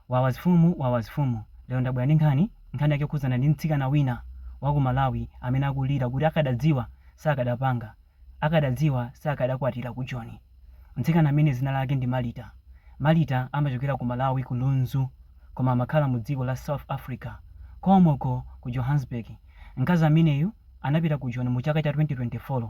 Wawa zfumu wawa zfumu. Lero ndabwera ndi nkhani, nkhani yake yokhudzana ndi mtsikana wina wa ku Malawi amene akulira kuti akadadziwa sakadapanga, akadadziwa sakadakwatira ku Joni. Mtsikana amene dzina lake ndi Malita. Malita amachokera ku Malawi ku Lunzu koma amakhala mu dziko la South Africa komweko ku Johannesburg. Mkazi ameneyu anapita ku Joni mu chaka cha 2024.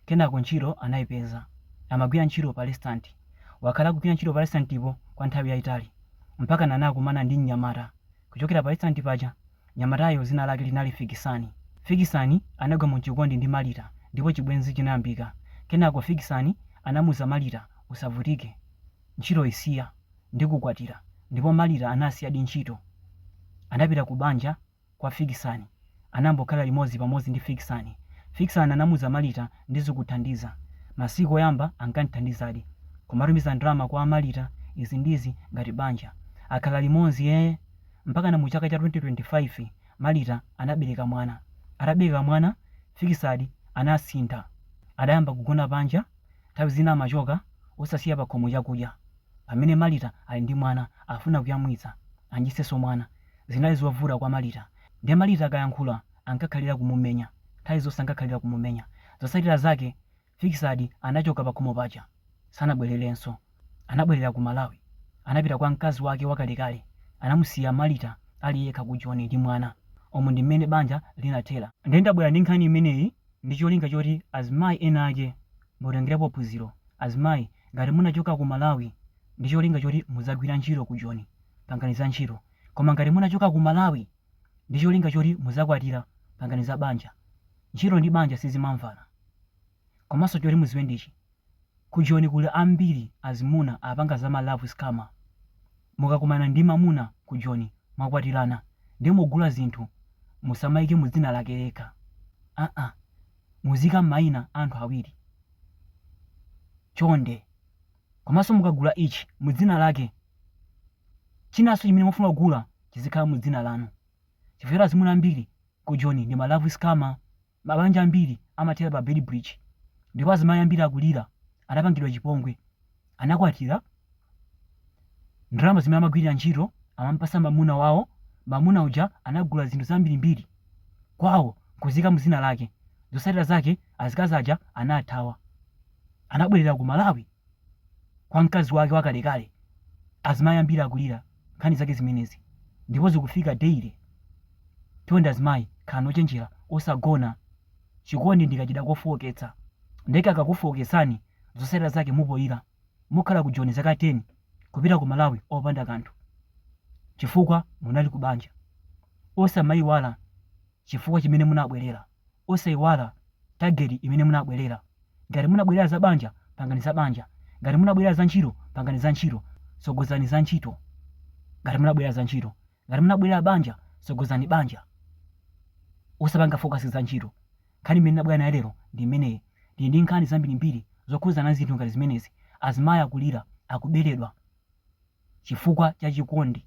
Kenako ntchito anaipeza. Amagwira ntchito pa lesitanti. Wakhala akugwira ntchito pa lesitantipo kwa nthawi yaitali. Mpakana anakumana ndi mnyamata kuchokera pa lesitanti paja. Mnyamatayo dzina lake linali Fikisani. Fikisani anagwa mu chikondi ndi Malita ndipo chibwenzi chinayambika. Kenako Fikisani anamuza Malita usavutike, ntchito isiya, ndikukwatira. Ndipo Malita anasiyadi ntchito. Anapita ku banja. kwa Fikisani, anambokhala limodzi pamodzi ndi Fikisani. Fikisani anamuza Malita ndizikuthandiza. Masiku oyamba ankandithandizadi. Kumatumiza ndalama kwa Malita izi ndi izi ngati banja. Akhala limodzi ee! Mpakana mu chaka cha 2025 Malita anabereka mwana. Atabereka mwana Fikisani anasintha. Adayamba kugona panja, nthawi zina amachoka osasiya pakhomo chakudya. Pamene Malita ali ndi mwana afuna kuyamwitsa, adyetsenso mwana. Zinali zovuta kwa Malita. Nde Malita akayankhula ankakhalira kumumenya. Nthawi zonse ankakhalira kumumenya. Zotsatira zake Fikisani anachoka pakhomo paja. Sanabwelerenso. Anabwelera ku Malawi. Anapita kwa mkazi wake wakalekale. Anamusiya Malita ali yekha ku Joni ndi mwana. Umu ndi mmene banja linathera. Nde ndabwera ndi nkhani imeneyi ndi cholinga choti azimayi ena ake Mutengelepo phunziro azimayi ngati munachoka ku Malawi ndicholinga choti mudzagwira ntchito ku Joni pangani za ntchito koma ngati munachoka ku Malawi ndicholinga choti mudzakwatira pangani za banja ntchito ndi banja sizimamvana komanso choti mudziwe ndichi ku Joni kuli ambiri azimuna apanga za ma love scammer mukakumana ndi mamuna ku Joni mwakwatilana nde mugula zinthu musamaike mu dzina lake yekha aa muziika maina a anthu awiri chonde komanso mukagula ichi mu dzina lake chinanso chimene mufuna kugula chizikhala mu dzina lanu chifukwa azimuna ambiri ku joni ndi ma love scammer mabanja ambiri amathera pa Beitbridge ndipo azimayi ambiri akulira anapangidwa chipongwe anakwatira, ndalama zimene amagwirira ntchito amamupasa mamuna wawo, mamuna uja anagula zinthu zambirimbiri kwawo nkuziika mu dzina lake, zotsatira zake azikazi aja anathawa, anabwerera ku Malawi kwa mkazi wake wakalekale, azimayi ambiri akulira nkhani zake zimenezi ndipo zikufika daily, chonde azimayi khalani ochenjera osagona. chikondi ndi kachida kofooketsa nde kakakufooketsani zotsatira zake mumapoila mukhala ku joni zaka 10 kupita ku malawi opanda kanthu chifukwa munali ku banja. osamaiwala chifukwa chimene munabwelera, osaiwala target imene munabwelera. ngati munabwelera za banja pangani za banja, ngati munabwelera za ntchito pangani za ntchito, tsogozani za ntchito ngati munabwelera za ntchito. Ngati munabwelera banja tsogozani banja osapanga focus za ntchito. Nkhani imene ndinabwera nayo lero ndi imeneyi. Ndili ndi nkhani zambirimbiri zokhudzana ndi zinthu ngati zimenezi. Azimayi akulira, akubeledwa chifukwa cha chikondi.